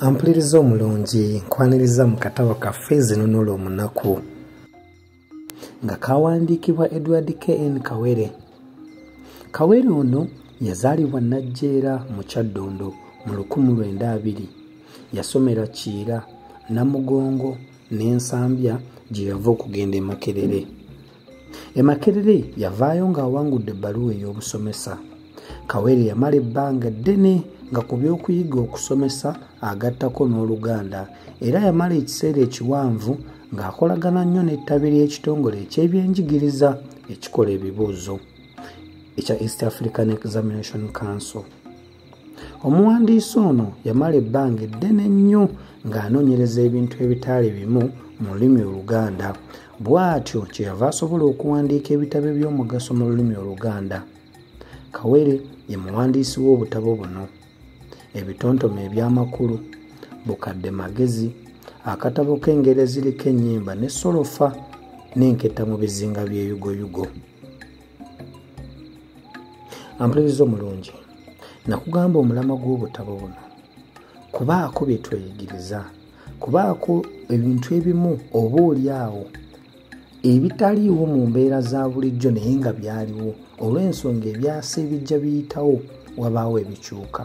ampuliriza omulungi nkwaniriza mu katabo kaffe ezinunula omunaku nga kawandiikibwa edward kn kawere kawere ono yazaalibwa najjeera mu kyaddondo mu 1920 yasomera kiira namugongo ne nsambya gye yava okugenda e makerere e makerere yavaayo ng'awangudde ebbaluwa ey'obusomesa kawere yamala ebbanga ddene nga ku by'okuyiga okusomesa agattako n'oluganda era yamala ekiseera ekiwanvu ng'akolagana nnyo n'ettabi ly'ekitongole eky'ebyenjigiriza ekikola ebibuuzo ekya east african examination council omuwandiisi ono yamala ebbanga eddene nnyo ng'anoonyereza ebintu ebitaali bimu mu lulimi oluganda bw'atyo kyeyava asobola okuwandiika ebitabo eby'omugaso mu lulimi oluganda kawere ye muwandiisi w'obutabo buno ebitontome eby'amakulu bukadde magezi akatabo k'engeri eziriko ennyimba ne solofa n'enketta mu bizinga by'eyugoyugo ampuliriza omulungi nakugamba omulamwa gw'obutabo buno kubaako bye tweyigiriza kubaako ebintu ebimu oba oli awo ebitaliiwo mu mbeera za bulijjo naye nga byaliwo olw'ensonga ebyasa ebijja biyitawo wabaawo ebikyuka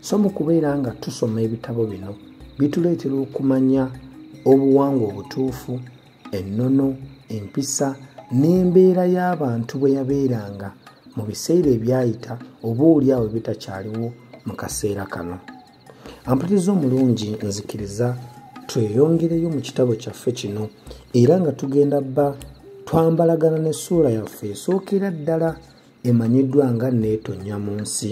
so mu kubeera nga tusoma ebitabo bino bituleetera okumanya obuwangwa obutuufu ennono empisa n'embeera y'abantu bwe yabeeranga mu biseera ebyayita oba oli awo bitakyaliwo mu kaseera kano ampatiza omulungi nzikiriza tweyongereyo mu kitabo kyaffe kino era nga tugenda bba twambalagana n'essuula yaffe esookera ddala emanyiddwa nga neetonya mu nsi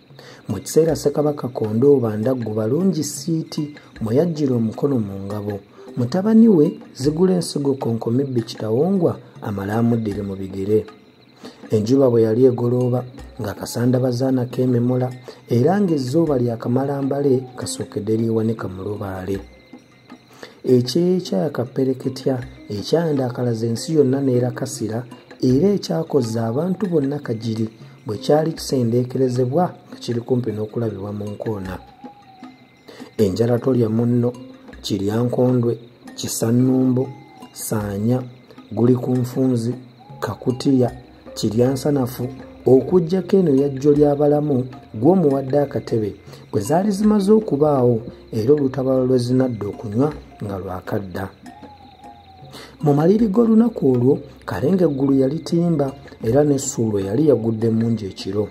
Mu kiseera Ssekabaka Kondooba Ndaggu Balungi Siiti mwe yaggyira omukono mu ngabo, mutabani we Zigula Ensigo Konkomibbi Kitawongwa amale amuddire mu bigere. Enjuba bwe yali egolooba nga kasanda bazaana keememula era ng'ezzooba lyakamala mbale kasookedde lyewanika mu lubaale. ekyekya kapereketya ekyandakalaza ensi yonna neerakasira era ekyakozza abantu bonna kagiri bwe kyali kisendeekerezebwa nga kiri kumpi n'okulabibwa mu nkoona enjala tolya munno kiryankondwe kisannumbo saanya guli ku nfunzi kakutiya kiryansanafu okuggyako eno yajjo ly'abalamu gw'omuwadde akatebe bwe zaali zimaze okubaawo era olutabalo lwe zinadda okunywa nga lwakadda mu maliri g'olunaku olwo kalenga eggulu yalitimba era n'essuulo yali yagudde mungi ekiro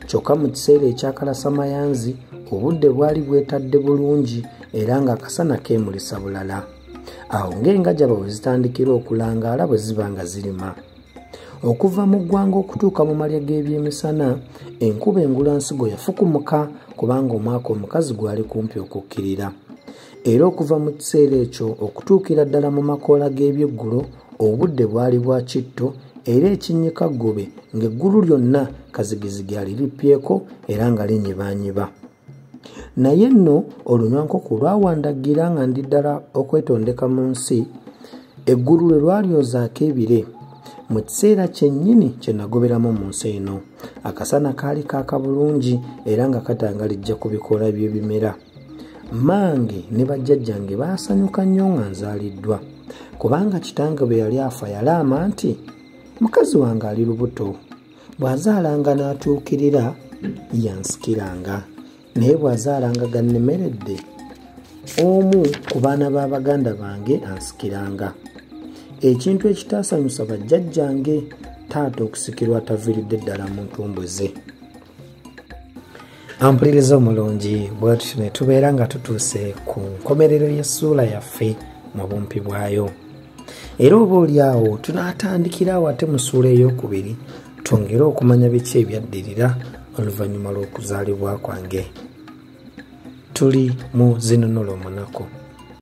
kyokka mu kiseera ekyakalasamayanzi obudde bwali bwetadde bulungi era ng'akasana keemulisa bulala awo ng'engaja bwe zitandikira okulangaala bwe ziba nga zirima okuva mu ggwanga okutuuka mu malya g'ebyemisana enkuba engula nsigo yafukumuka kubanga omwaka omukazi gwali kumpi okukkirira era okuva mu kiseera ekyo okutuukira ddala mu makoola g'ebyeggulo obudde bwali bwa kitto era ekinnyika ggube ng'eggulu lyonna kazigizigi aliripyeko era nga linyibanyiba naye nno olunywankoko lwawandagira nga ndi ddala okwetondeka mu nsi eggulu lwe lwalyozaako ebire mu kiseera kyennyini kye nagoberamu mu nsi eno akasana kaali kaaka bulungi era nga katangalijja ku bikoola by'ebimera mmange ne bajjajjange baasanyuka nnyo nga nzaaliddwa kubanga kitange bwe yali afa yalaama nti mukazi wange ali lubuto bw'azaalanga n'atuukirira yansikiranga naye bw'azaalanga gannemeredde omu ku baana ba baganda bange ansikiranga ekintu ekitaasanyusa bajjajjange taata okusikirwa ataviiridde ddala mu ntumbwe ze ampuliriza omulungi bwetutyo ne tubeera nga tutuuse ku nkomerero y'essuula yaffe mu bumpi bwayo era oba oli awo tunaatandikira awo ate mu suula ey'okubiri twongere okumanya biki ebyaddirira oluvannyuma lw'okuzaalibwa kwange tuli mu zinunulo omunaku